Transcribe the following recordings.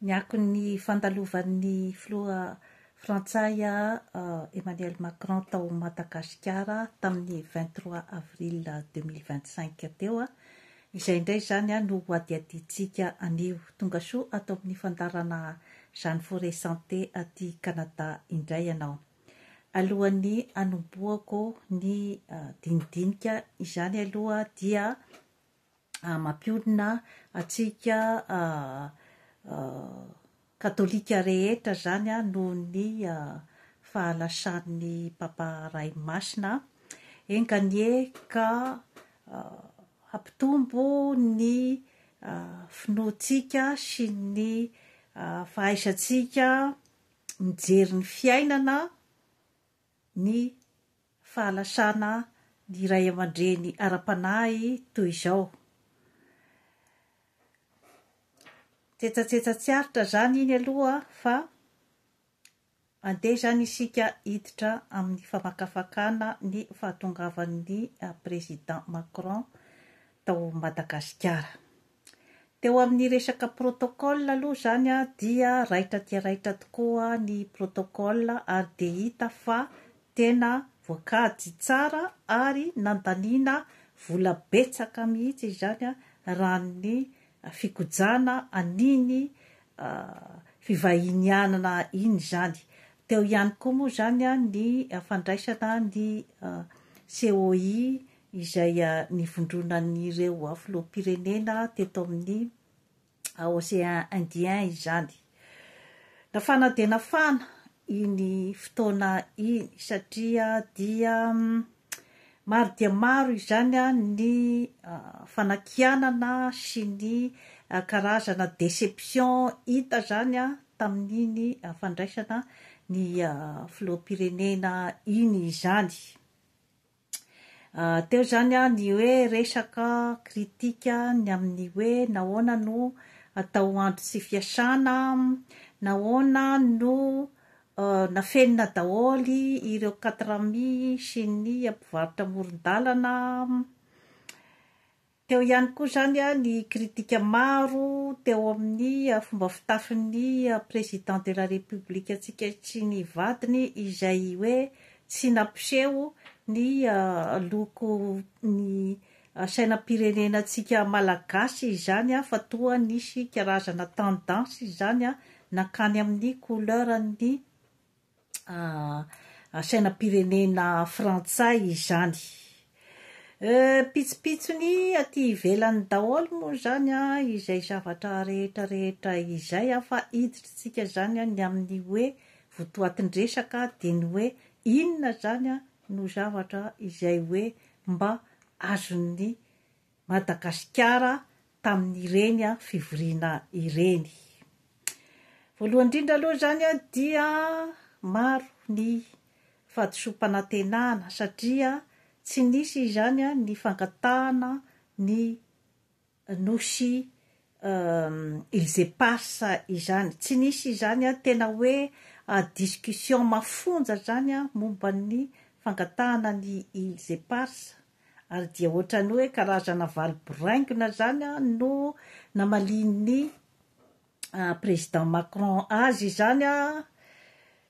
Ny akon'ny fandalovan'ny filoha frantsay Emmanuel Macron tao Madagasikara tamin'ny vingt trois avril deux mille vingt cinq teo, izay indray izany no hohadihadiantsika anio. Tonga soa ato amin'ny fandaharana Jeanne Forêt Santé aty Canada indray ianao. Alohan'ny hanombohako ny dinidinika izany aloha dia. mampionona antsika Katolika rehetra izany noho ny fahalasan'ny Papa Ray Masina. Enganie ka hampitombo ny finoantsika sy ny fahaisantsika mijery ny fiainana, ny fahalasana ny ray aman-dreny ara-panahy toy izao. Tsetsatsetsa tsy aritra izany iny aloha fa andeha izany isika hiditra amin'ny famakafakana ny fahatongavan'ny Président Macron tao Madagasikara. Teo amin'ny resaka protocole aloha izany dia raitra dia raitra tokoa ny protocole ary dia hita fa tena voakajy tsara ary nandaniana vola betsaka mihitsy izany raha ny fikojana an'iny fivahinianana iny izany. Teo ihany koa moa izany ny fandraisana ny COI izay nivondronan'ireo filoham-pirenena teto amin'ny Océan Indien izany. Nafana dia nafana iny fotoana iny satria dia maro dia maro izany ny fanakianana sy ny karazana déception hita izany tamin'iny fandraisana ny filoham-pirenena iny izany. Teo izany ny hoe resaka critique ny amin'ny hoe nahoana no atao andro tsy fiasana, nahoana no nafenina daholo ireo quatre amis sy ny mpivarotra amoron-dalana, Teo ihany koa izany ny kritika maro teo amin'ny fomba fitafin'ny Président de la République antsika sy ny vadiny izay hoe tsy nampiseho ny loko ny sainam-pirenena antsika Malagasy izany fa toa nisy karazana tendance izany nankany amin'ny couleur-n'ny sainam-pirenena frantsay izany. Pitsopitsony aty ivelany daholo moa izany izay zavatra rehetrarehetra izay fa hiditrintsika izany ny amin'ny hoe votoatin-dresaka dia ny hoe inona izany no zavatra izay hoe mba azon'ny Madagasikara tamin'ireny fivoriana ireny. Voalohany indrindra aloha izany dia maro ny fahadisoam-panantenana satria tsy nisy izany ny fangatahana ny Nosy Îles Éparses izany. Tsy nisy izany tena hoe discussion mafonja izany momba ny fangatahana ny Îles Éparses. ary dia hoatran'ny hoe karazana valy boraingina izany no namalian'ny Président Macron azy izany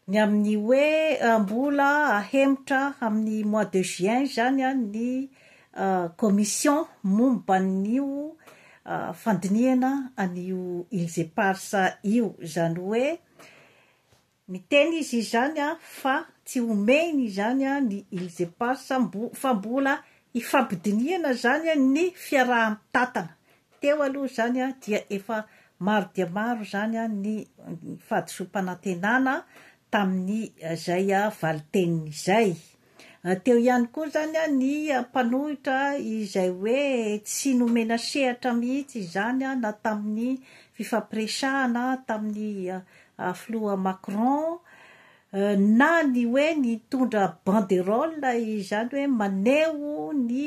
ny amin'ny hoe mbola hahemotra amin'ny mois de juin izany ny Commission momba an'io fandinihana an'io Îles Éparses io, izany hoe. Niteny izy izany fa tsy homehiny izany ny Îles Éparses fa mbola hifampidinihana izany ny fiaraha-mitantana. Teo aloha izany dia efa maro dia maro izany ny fahadisoam-panantenana tamin'izay valin-teniny izay. Teo ihany koa izany ny mpanohitra izay hoe tsy nomena sehatra mihitsy izany na tamin'ny fifampiresahana tamin'ny filoha Macron na ny hoe nitondra banderole izany hoe maneho ny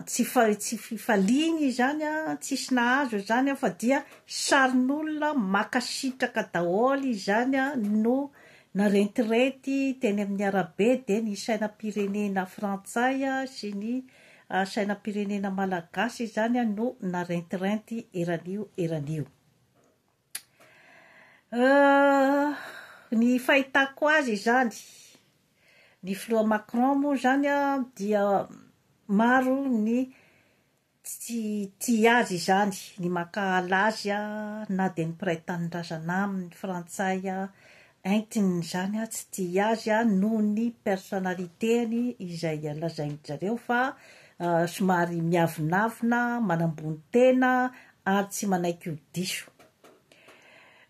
Tsy tsy fifaliana izany an, tsisy nahazo izany an, fa dia sarin'olona makasitraka daholo izany an no narentirety teny amin'ny arabe dia ny sainam-pirenena frantsay an sy ny sainam-pirenena malagasy izany an no narentirenty eran'io eran'io. Ny fahitako azy izany, ny filoha Macron moa zany an dia maro ny tsy tia azy izany, ny mankahala azy an, na dia ny mpiray tanindrazana aminy frantsay entiny izany an tsy tia azy an noho ny personnalité-ny izay lazain-dry zareo fa somary miavonavona, manambony tena, ary tsy manaiky ho diso.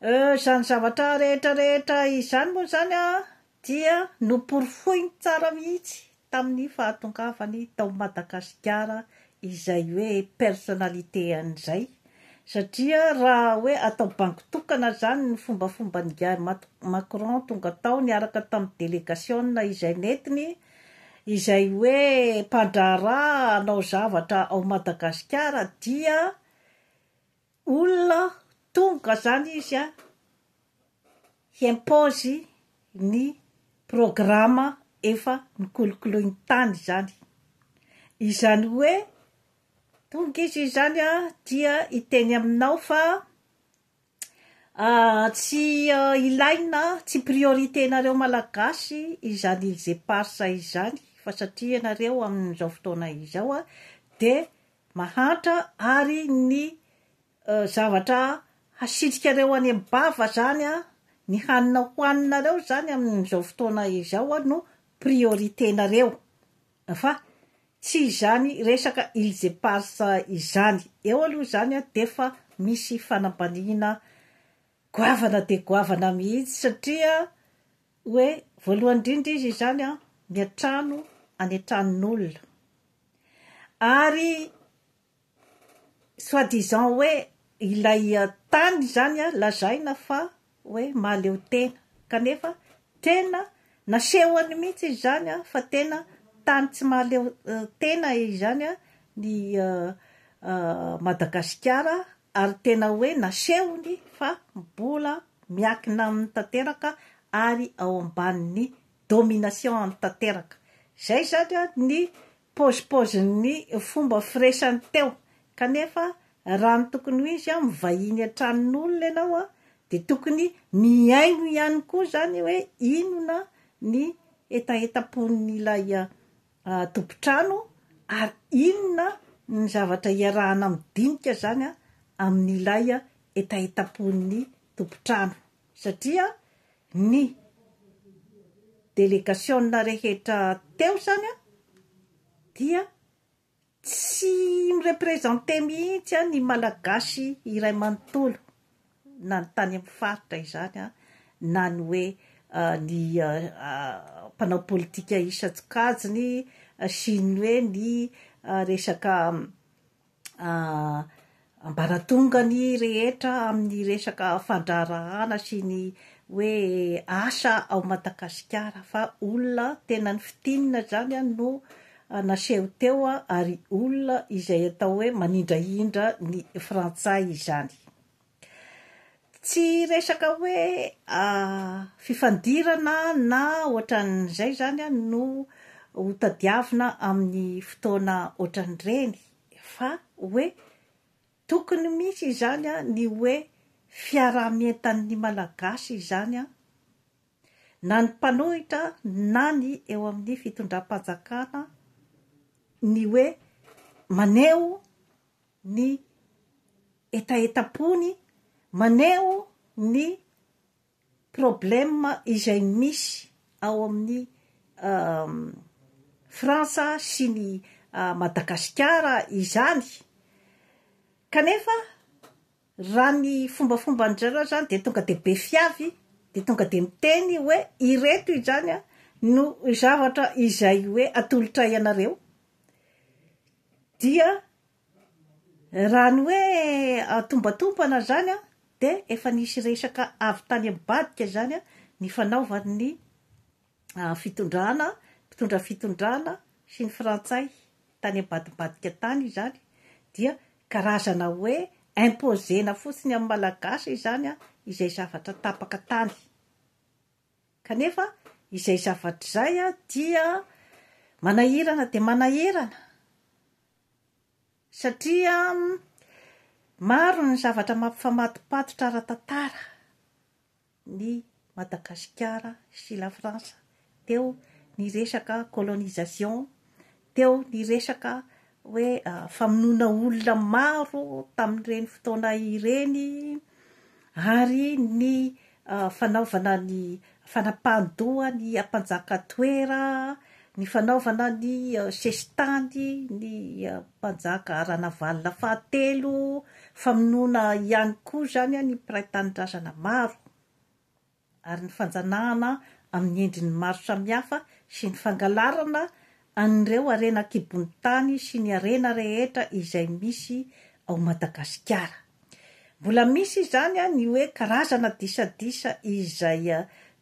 Euh, izany zavatra rehetra rehetra izany moa izany an, dia noporofoiny tsara mihitsy tamin'ny fahatongavany tao Madagasikara izay hoe personnalité-any izay, satria raha hoe atao bango tokana izany ny fombafomban'ingahy Macron tonga tao niaraka tamin'ny delegasiona izay nentiny, izay hoe mpandraharaha hanao zavatra ao Madagasikara dia olona tonga zany izy a hi-impose ny programa efa nokolokoloiny tany zany, izany hoe tonga izy izany a dia hiteny aminao fa Tsy ilaina, tsy priorité nareo Malagasy izany îles éparses izany fa satria ianareo amin'izao fotoana izao dia mahantra ary ny zavatra hasitrikareo any am-bava izany, ny hanina hohaninareo izany amin'izao fotoana izao no priorité nareo. Fa tsy izany resaka Îles Éparses izany. Eo aloha izany dia efa misy fanambaniana goavana dia goavana mihitsy satria hoe voalohany indrindra izy izany miantrano any an-tranon'olona. Ary soit disant hoe ilay tany izany lazaina fa hoe mahaleo tena, kanefa tena nasehony mihitsy izy izany fa tena tany tsy mahaleo tena izany ny Madagasikara ary tena hoe nasehony fa mbola miankina aminy tanteraka ary ao ambanin'ny domination-ny tanteraka. Izay izany ny Paozipaozin'ny fomba firesany teo, kanefa raha ny tokony ho izy, mivahiny an-tranon'olona ianao dia tokony mihaino ihany koa izany hoe inona ny hetahetam-pon'ilay tompon-trano ary inona ny zavatra iarahana amin'ny dinika izany amin'ilay hetahetam-pon'ny tompon-trano. satria ny delegasiona rehetra teo izany an, dia tsy mi-representer mihitsy an ny Malagasy iray manontolo, na ny tany amin'ny faritra izany an, na ny hoe ny mpanao politika isan-tsokajiny sy ny hoe ny resaka ambaratongany rehetra amin'ny resaka fandraharahana sy ny hoe asa ao Madagasikara fa olona tena ny fitinina izany no naseho teo ary olona izay atao hoe manindrahindra ny frantsay izany. Tsy resaka hoe fifandirana na ohatran'izay izany no ho tadiavina amin'ny fotoana ohatran'ireny fa hoe tokony misy izany ny hoe fiaraha-mientan'ny Malagasy izany na ny mpanohitra na ny eo amin'ny fitondram-panjakana ny hoe maneho ny hetahetam-pony maneho ny problème izay misy ao amin'ny Frantsa sy ny Madagasikara izany kanefa raha ny fombafomban-dry zareo izany dia tonga dia be fiavy dia tonga dia miteny hoe ireto izany no zavatra izay hoe atolotray anareo. Dia raha ny hoe tombantompana izany dia efa nisy resaka avy tany ambadika izany nifanaovan'ny fitondrana, mpitondra fitondrana sy ny frantsay tany ambadimbadika tany izany, dia karazana hoe imposer-na fotsiny amin'ny malagasy izany izay zavatra tapaka tany. Kanefa izay zavatra izay dia manahirana dia manahirana, satria maro ny zavatra mampifamadipatotra ara-tantara ny Madagasikara sy la France teo ny resaka colonisation, Teo ny resaka hoe famonoana olona maro tamin'ireny fotoana ireny ary ny fanaovana ny fanapahan-doha ny mpanjaka Toera, ny fanaovana ny sesitany ny mpanjaka Ranavalona fahatelo, famonoana ihany koa izany ny mpiray tanindrazana maro. ary ny fanjanahana amin'ny endriny maro samihafa sy ny fangalarana an'ireo harena an-kibon'ny tany sy ny harena rehetra izay misy ao Madagasikara. Mbola misy izany ny hoe karazana disadisa izay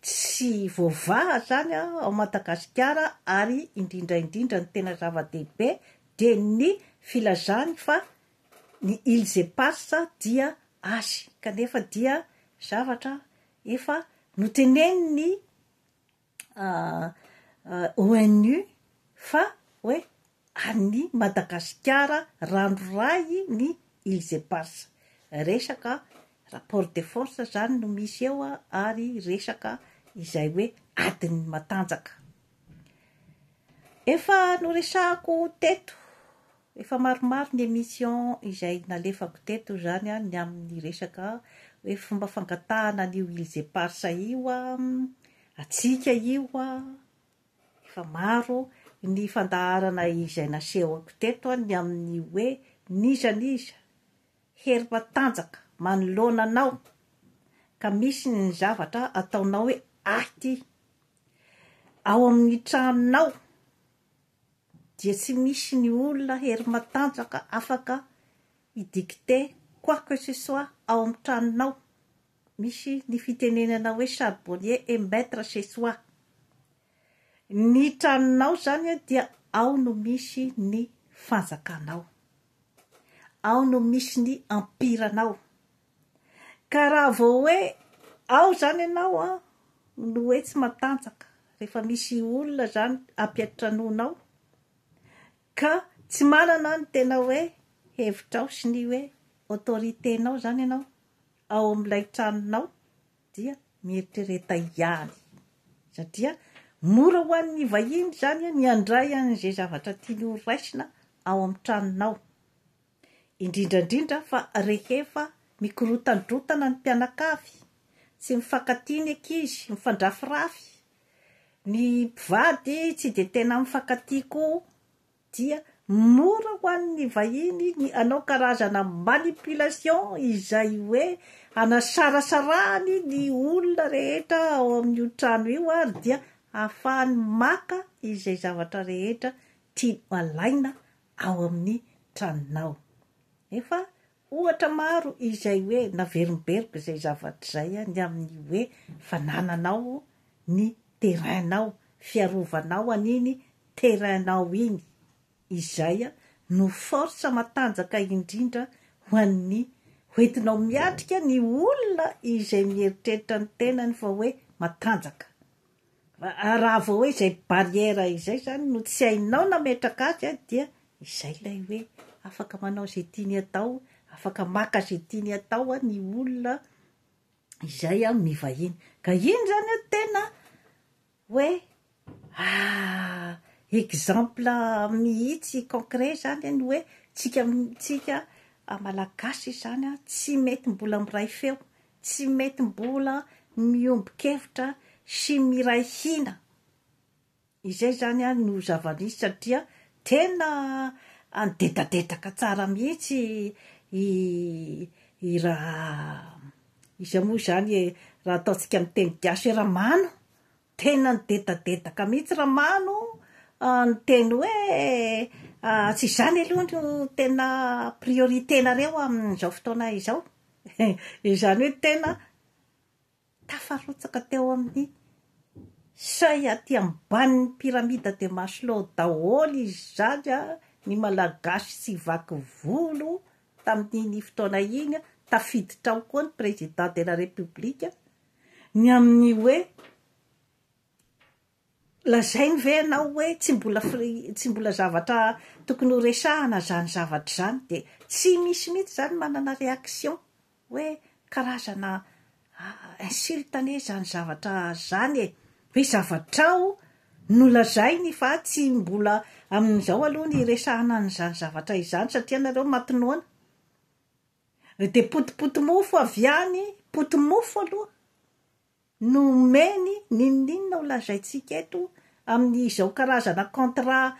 tsy voavaha zany ao Madagasikara ary indrindra indrindra ny tena zava-dehibe dia ny filazany fa Ny îles éparses dia azy, kanefa dia zavatra efa notenenin'ny ONU fa hoe an'ny Madagasikara ranoray ny îles éparses. Resaka rapport de force zany no misy eo ary resaka izay hoe adin'ny matanjaka. Efa noresahako teto Efa maromaro ny emission izay nalefako teto izany an ny amin'ny resaka hoe fomba fangatahana an'io îles éparses io an, hatsiaka io an, efa maro ny fandaharana izay nasehoko teto an ny amin'ny hoe n'iza n'iza hery matanjaka manoloana anao ka misy ny zavatra ataonao hoe ahy ity ao amin'ny tranonao, dia tsy misy ny olona hery matanjaka afaka hi dicter quoi que ce soit ao amin'ny tranonao, misy ny fitenenana hoe charbonnier est maitre chez soi, ny tranonao izany dia ao no misy ny fanjakanao, ao no misy ny empiranao. Ka raha vao hoe ao izany ianao an, no hoe tsy matanjaka, rehefa misy olona izany ampiantranoanao ka tsy manana ny tena hoe hevitrao sy ny hoe autorité-nao izany ianao ao amin'ilay tranonao dia mieritrereta ihany, satria mora ho an'ny vahiny izany ny handray an'izay zavatra tiany horaisina ao amin'ny tranonao. indrindra indrindra fa rehefa mikorotandrotana ny mpianakavy, tsy mifankatia ny ankizy, mifandrafirafy, ny mpivady tsy dia tena mifankatia koa dia mora ho an'ny vahiny ny hanao karazana manipulation izay hoe hanasarasarahany ny olona rehetra ao amin'io trano io ary dia hahafahany maka izay zavatra rehetra tiany alaina ao amin'ny tranonao. Efa ohatra maro izay hoe naverimberiko izay zavatra izay ny amin'ny hoe fa nananao ny terrain-nao, fiarovanao an'iny terrain-nao iny. Izay no force matanjaka indrindra ho an'ny hoentinao miatrika ny olona izay mieritreritra ny tenany fa hoe matanjaka. Raha vao hoe izay barrière izay izany no tsy hainao nametraka azy dia izay ilay hoe afaka manao izay tiany hatao, afaka maka izay tiany hatao ny olona izay mivahiny. Ka iny izany no tena hoe exemple mihitsy concret izany ny hoe tsika tsika Malagasy izany tsy mety mbola miray feo Tsy mety mbola miombon-kevitra sy miray hina. Izay izany no zava-nisy satria tena nidedadedaka tsara mihitsy i i ra iza moa izany e, raha ataontsika amin'ny teny gasy hoe Ramano Tena nidedadedaka mihitsy Ramano ah, niteny hoe ah, tsy izany aloha no tena priorité-nareo amin'izao fotoana izao. Izany hoe tena tafarotsaka teo amin'ny seuil aty ambanin'ny pyramide de Maslow daholo izany ah, ny Malagasy tsy vaky volo tamin'iny fotoana iny, tafiditra ao koa ny Président de la République. ny amin'ny hoe lazainy ve ianao hoe tsy mbola tsy mbola zavatra tokony ho resahana izany zavatra izany dia tsy misy mihitsy izany manana réaction hoe karazana insulte anie izany zavatra izany e! hoe zavatrao no lazainy fa tsy mbola amin'izao aloha ny hiresahana an'izany zavatra izany satria nareo maty noana Ry dia potipotimofo avy any, potimofo aloha, no omeny n'inon'inona ho lazaintsika eto amin'izao karazana contrat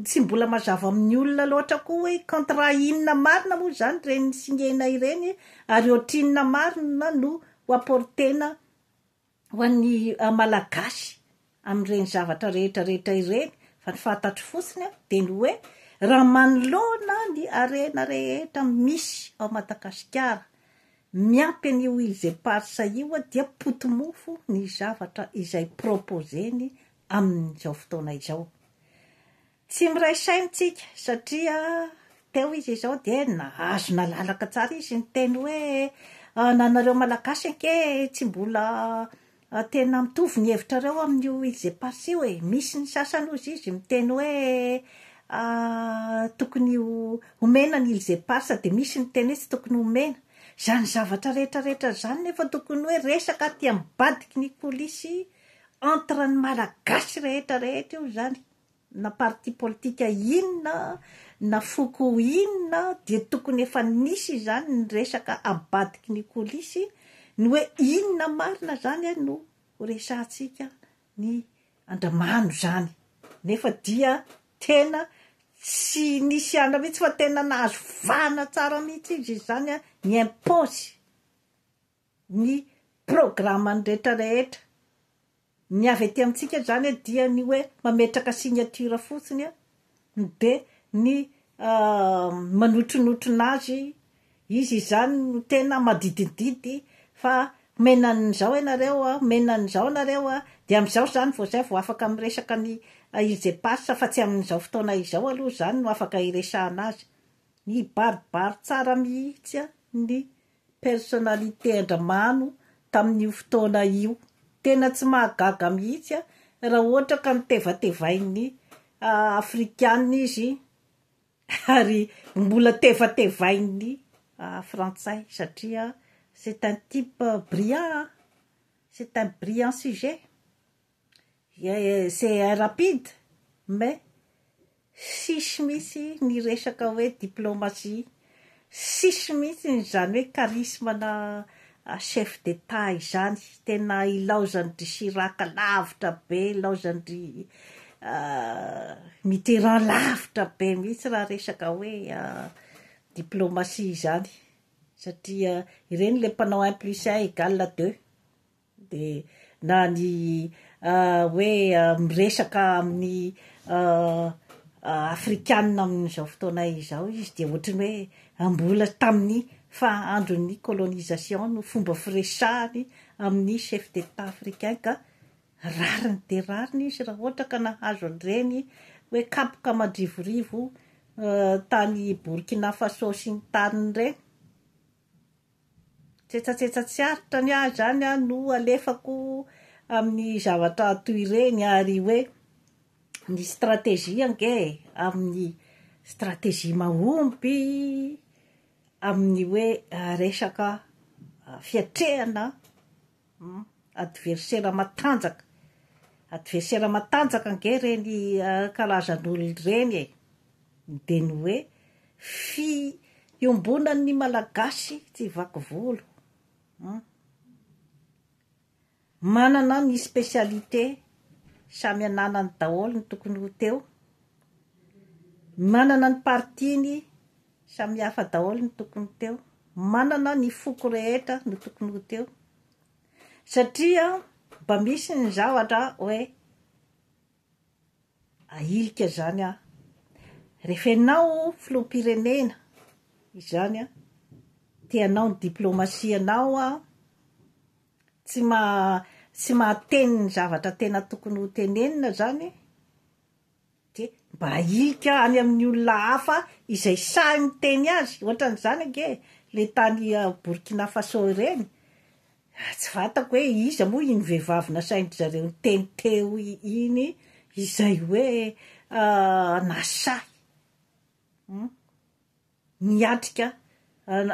tsy mbola mazava amin'ny olona loatra koa hoe contrat inona marina moa izany ireny signer-na ireny ary ohatrinona marina no ho apporter-na Ho an'ny Malagasy amin'ireny zavatra rehetra rehetra ireny, fa ny fantatro fotsiny aho dia ny hoe raha manoloana ny harena rehetra misy ao Madagasikara, miampy an'io îles éparses io dia poti-mofo ny zavatra izay proposer-ny amin'izao fotoana izao. Tsy miray saina tsika satria teo izy izao dia nahazo nalalaka tsara izy niteny hoe ananareo malagasy ange tsy mbola tena mitovy ny hevitrareo amin'io îles éparses io e, misy ny sasany hozy izy miteny hoe tokony homena ny îles éparses dia misy ny miteny hoe tsy tokony homena. Izany zavatra rehetrarehetra izany nefa tokony hoe resaka aty ambadiky ny coulisse entre ny malagasy rehetrarehetra io izany. na parti politika inona na foko inona dia tokony efa nisy izany ny resaka abadiky ny colisy ny hoe inona marina zany eh no horesahantsika ny andramano izany nefa dia tena tsy nisy hiala mihitsy fa tena nahazo vahana tsara mihitsy izy izany ny impôts ny programme-ny rehetra rehetra. Ny avy aty amintsika izany dia ny hoe mametraka signature fotsiny dia ny manotronotrona azy, izy izany no tena madidididdy fa omena an'izao ianareo, omena an'izao nareo dia amin'izao izany vao izay vao afaka miresaka ny IGPAS fa tsy amin'izao fotoana izao aloha izany no afaka hiresahana azy. Mibaribary tsara mihitsy ny. personnalité andramano tamin'io fotoana io. Tena tsy mahagaga mihitsy a, raha ohatra ka notevatevain'ny afrikana izy ary mbola tevatevain'ny frantsay satria c'est un type brillant a, c'est un brillant sujet, c'est un rapide mais. Tsisy mihitsy ny resaka hoe diplomatie, tsisy mihitsy ny izany hoe charisme ana chef d'Etat izany, tena ilaozan-dry Chirac lavitra be, ilaozan-dry Mitterrand lavitra be mihitsy raha resaka hoe diplomatie izany, satria ireny ilay mpanao un plus un égale deux. Dia na ny hoe miresaka amin'ny afrikanina amin'izao fotoana izao izy dia ohatran'ny hoe mbola tamin'ny faha-andron'ny colonisation no fomba firesahany amin'ny chef d'Etat africain ka rariny dia rariny izy raha ohatra ka nahazo an'ireny hoe kapoka madrivorivo tany Burkina Faso sy ny tariny ireny. Tsetsatsetsa tsy aritra ny ahy izany an, no alefako amin'ny zavatra toy ireny ary hoe ny stratégie ange e, amin'ny stratégie mahomby amin'ny hoe resaka fiatrehana. Adversera matanjaka. Adversera matanjaka ange ireny karazan'olona ireny e! Dia ny hoe fiombonan'ny Malagasy tsy vaky volo. Manana ny spécialité, samy ananany daholo ny tokony ho teo. Manana ny partie-ny Samihafa daholo ny tokony teo. Manana ny foko rehetra no tokony ho teo. Satria mba misy ny zavatra hoe ahilika izany aho. Rehefa ianao filoham-pirenena izany an, te hanao ny diplaomasianao an, tsy maha, tsy mahateny ny zavatra tena tokony ho tenenina izany, dia mba ahilika any amin'ny olona hafa izay sahy miteny azy, ohatran'izany ange e, ilay tany Burkina Faso ireny, tsy fantako hoe iza moa iny vehivavy nasain-dry zareo niteny teo iny izay hoe nasahy niatrika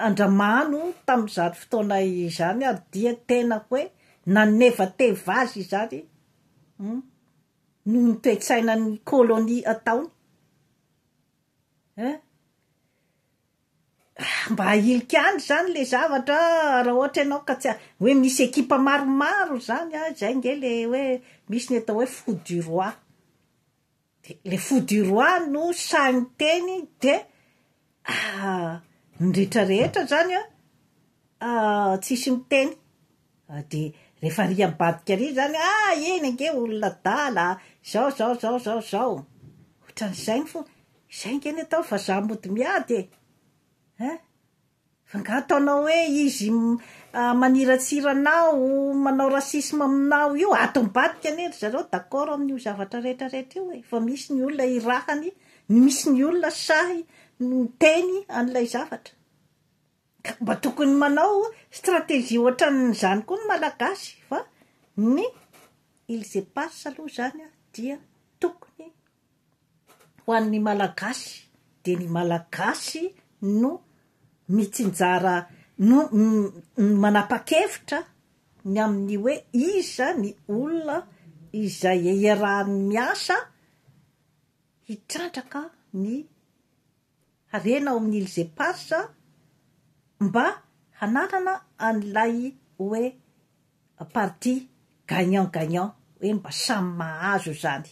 an-dRamano tamin'izany fotoana izany ary dia tena hoe nanevateva azy izany, noho ny toe-tsainan'ny kôlônia ataony eh. Ah, mba ahilika any izany ilay zavatra ah, raha ohatra ianao ka tsy ah, hoe misy ekipa maromaro izany ah, izay nge le hoe misy ny atao hoe fou du roi, dia le fou du roi no sahy miteny dia Aa! ny rehetra rehetra zany an! aa! tsisy miteny, aa! de rehefa ary ambadika ary zany an! aa! eny ange olona adala aa! zao zao zao zao zao, otran'izay ny fo, izay ange ny atao fa za mody miady e! ein! fa nga ataonao hoe izy maniratsira anao, manao racisme aminao io, ato ambadika anie ry zareo d'accord amin'io zavatra rehetra rehetra io e! fa misy ny olona irahany. ny misy ny olona sahy miteny an'ilay zavatra ka mba tokony manao stratégie ohatran'izany koa ny Malagasy fa ny ils epas aloha izany dia tokony ho an'ny Malagasy dia ny Malagasy no mitsinjara no manapa-kevitra ny amin'ny hoe iza ny olona izay iarahany miasa hitrandraka ny harena ao amin'ny Îles-Éparses mba hananana an'ilay hoe parti gagnant gagnant, hoe mba samy mahazo izany.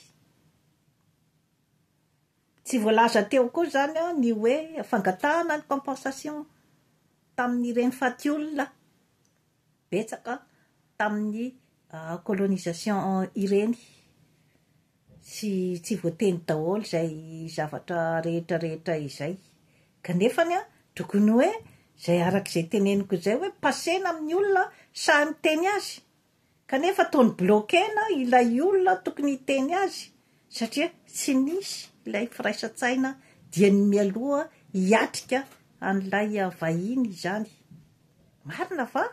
Tsy voalaza teo koa izany ny hoe fangatahana ny compensation tamin'ireny faty olona betsaka tamin'ny colonisation ireny sy tsy voateny daholo izay zavatra rehetra rehetra izay kanefa ny tokony hoe izay araka izay teneniko izay hoe passena amin'ny olona sahy miteny azy kanefa ataony bloquena ilay olona tokony hiteny azy satria tsy nisy ilay firaisan-tsaina diany mialoha hiatrika an'ilay vahiny izany Marina fa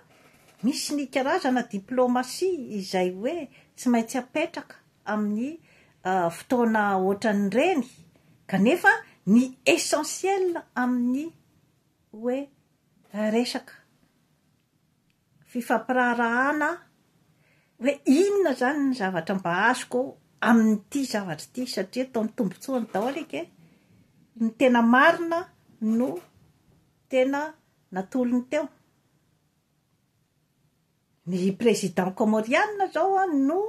misy ny karazana diplomasia izay hoe tsy maintsy apetraka amin'ny fotoana ohatran'ireny kanefa ny essentiel amin'ny hoe resaka fifampiraharahana hoe inona izany ny zavatra mba azoko amin'ity zavatra ity satria eto amin'ny tombontsoany daholo eka e, ny tena marina no tena natolony teo. Ny président comorianina zao no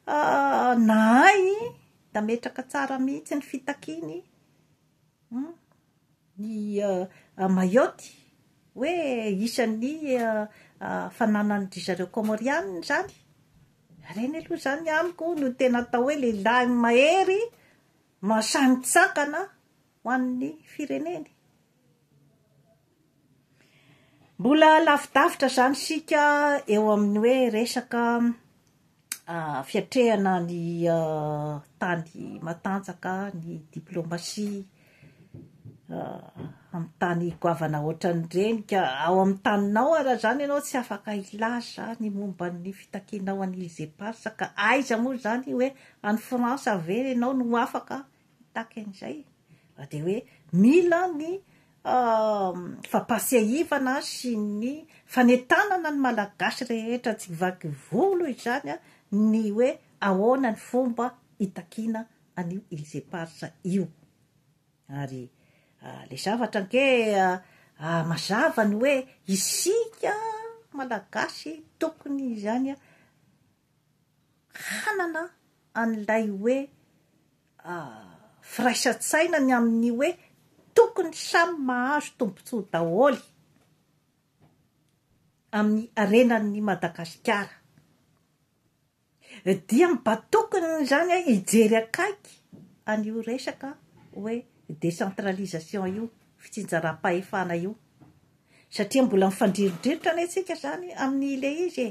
nahay nametraka tsara mihitsy ny fitakiany ny Mayotte hoe isan'ny fananan'ny ry zareo comorianina izany, ireny aloha izany amiko no tena atao hoe lehilahy mahery mahasahy mitsangana ho an'ny fireneny. Mbola lavidavitra izany isika eo amin'ny hoe resaka fiatrehana ny tany matanjaka, ny diplomasia amin'ny tany goavana ohatran'ireny ka ao amin'ny taninao ary raha izany ianao tsy afaka hilaza ny momba ny fitakianao an'i Îles Éparses ka aiza moa izany hoe any France ve ianao no afaka Tahaka an'izay fa dia hoe mila ny fampahatsiahivana sy ny fanentanana ny Malagasy rehetra tsy vaky volo izany ny hoe ahoana ny fomba hitakiana an'io Illes Éparses io. Ary ilay zavatra ange mazava ny hoe isika Malagasy tokony izany hanana an'ilay hoe firaisan-tsaina ny amin'ny hoe tokony samy mahazo tombontsoa daholo amin'ny harenan'ny Madagasikara dia mba tokony izany hijery akaiky an'io resaka hoe décentralisation io, fitsinjaram-pahefana io satria mbola mifandrirodrirotra anie tsika izany amin'ilay izy e!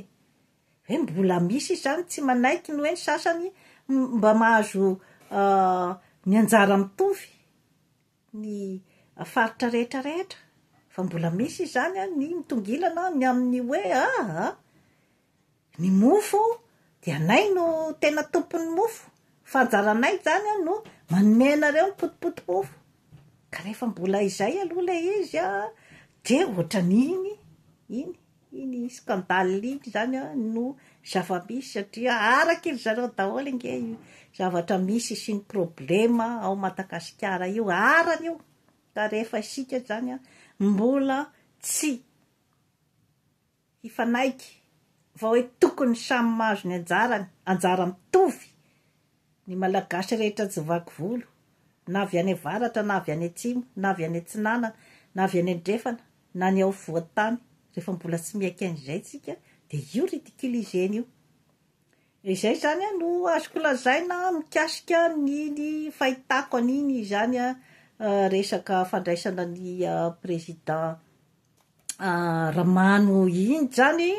Hoe mbola misy izany tsy manaiky ny hoe ny sasany mba mahazo ny anjara mitovy ny faritra rehetra rehetra fa mbola misy izany an ny mitongilana ny amin'ny hoe aa ny mofo dia anay no tena tompon'ny mofo fa anjaranay izany an no manome anareo ny potipoti mofo ka rehefa mbola izay aloha ilay izy an dia ohatran'iny iny Iny scandale iny izany no zava-misy satria araky ry zareo daholo ange io zavatra misy sy ny problème ao Madagasikara io, arany io ka rehefa isika izany mbola tsy hifanaiky fa hoe tokony samy mahazo ny anjarany, anjara mitovy. Ny Malagasy rehetra tsy vaky volo, na avy any avaratra na avy any atsimo, na avy any atsinanana, na avy any andrefana, na ny ao afovoan-tany, rehefa mbola tsy miaiky an'izay tsika dia io ridiculiser-ny io. Izay izany no azoko lazaina mikasika ny ny fahitako an'iny izany resaka fandraisana ny président raha mano iny zany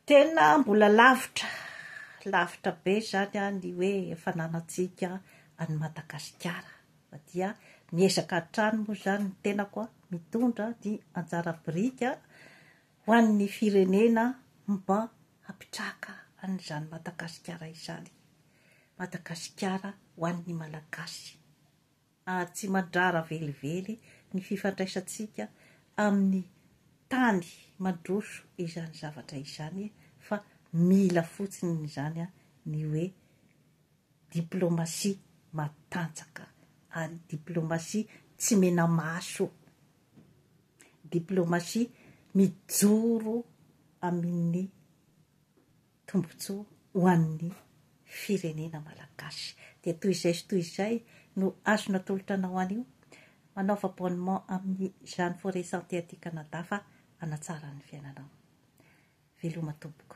tena mbola lavitra lavitra be zany an ny hoe fananantsika any Madagasikara fa dia miezaka hatrany moa zany ny tenako an mitondra ny anjara biriky ho an'ny firenena mba hampitraka an'izany Madagasikara izany Madagasikara ho an'ny Malagasy. ary tsy madrara velively ny fifandraisantsika amin'ny tany mandroso izany zavatra izany fa mila fotsiny izany ny hoe diplomasia matanjaka ary diplomasia tsy menamaso, diplomasia mijoro amin'ny. tombontsoa ho an'ny firenena malagasy. Dia toy izay sy toy izay no azo natolotra anao anio. Manaova abonnement amin'ny Jeanne Forêt Santé aty Canada fa hanatsara ny fiainanao. Veloma tompoko.